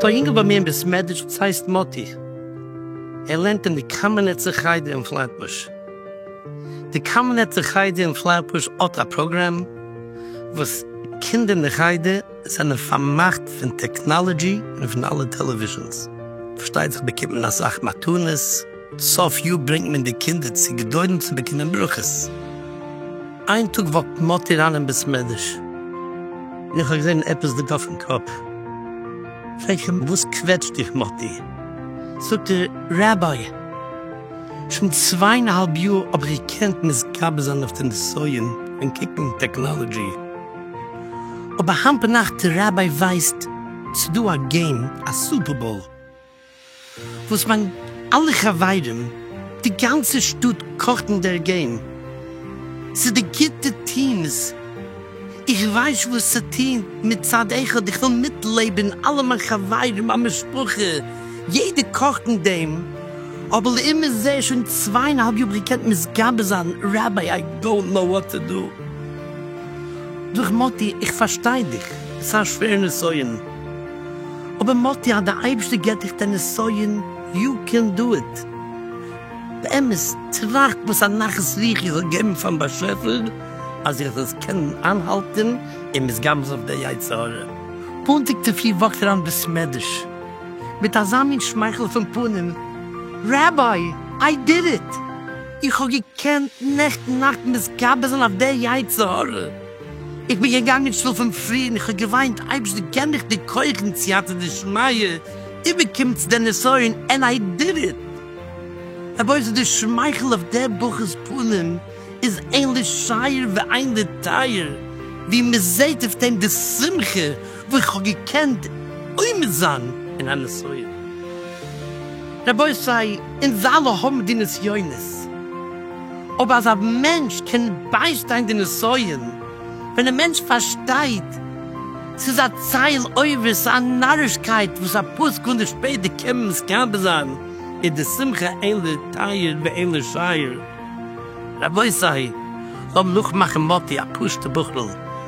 ס'איז דא א יונגל ביי מיר אין בית מדרש וואס הייסט מאטי, ער לערנט אין די קאמענעצער חדר אין פלעטבוש. די קאמענעצער חדר אין פלעטבוש האט א פראגראם וואס קינדער אין די חדר זענען פארמאכט פון טעקנאלעדזשי און פון אלע טעלעוויזשאנס, פארשטייט זיך באקומט מען אסאך מתנות, סוף יאר ברענגט מען די קינדער צו גדרים צו באקומען ברכות. איין טאג וואקט מאטי אריין אין בית מדרש און איך האב געזען עפעס ליגט אויפן קאפ. פרעג איך אים וואס קוועטשט דיך מאטי? זאגט ער, רבי, שוין צוויי און א האלב יאר האב איך געקענט מתגבר זיין אויף די נסיון און קוקן טעקנאלעדזשי, אבער היינט ביינאכט רבי ווייסט ס'דא א געים א סופערבאול. וואס מיין אלע חברים די גאנצע שטאט קאכט אין דער געים ס'איז די גוטע טיעמס איך ווייס וואס צו טוהן מצד אחד איך וויל מיטלעבען אלע מיין חברים מיין משפחה יעדער קאכט אין דעים אבער לאמיר זעהן שוין צוויי און א האלב יאר האב איך געקענט מסגבר זיין ראביי איי דאונט נאו וואט טו דא דורך מאטי איך פארשטיי דיך ס'איז א שווער נסיון. אבער מאטי אז די אייבערשטער געבט דיך די נסיון, יו קען דא איט. באמת, טראכט וואס א נחת רוח איר זאלט געבן פארן באשעפער אז איר זאלט עס קענען איינהאלטען און מסגמז אויף די יצר הרע. פאנטיג צופרי וואקט אריין אין בית מדרש מיט אזא מין שמייכל אויפן פנים, ראביי, איי דיד איט! איך האב געקענט נעכטן נאכט מתגבר זיין אויף די יצר הרע! איך בין געגאנגען שלאפן פרי און איך האב געוויינט, אייבערשט דו געב מיך די כח און סייעתא דשמיא, איבערקומטס די נסיון ענד איי דיד איט. רבותי די שמייכל אויף דער בחור'ס פנים איז עין לשעיר ועין לטייר, ווי מען זעט אויף דעם די שמחה וואס איך האב געקענט עומד זיין אין א נסיון. רבותי אונז אלע האבן די נסיונות. אויב אזא מענטש קען ביישטיין די נסיון, ווען א מענטש פארשטייט ס'איז א צייל עובר, ס'איז א נארישקייט וואס א פאר סעקונדעס שפעטער קען מען מסכים זיין, איז די שמחה אין לתאר ואין לשער. רבותי, לאמיר נאכמאכן מאטי, א פשוט'ע בחור'ל,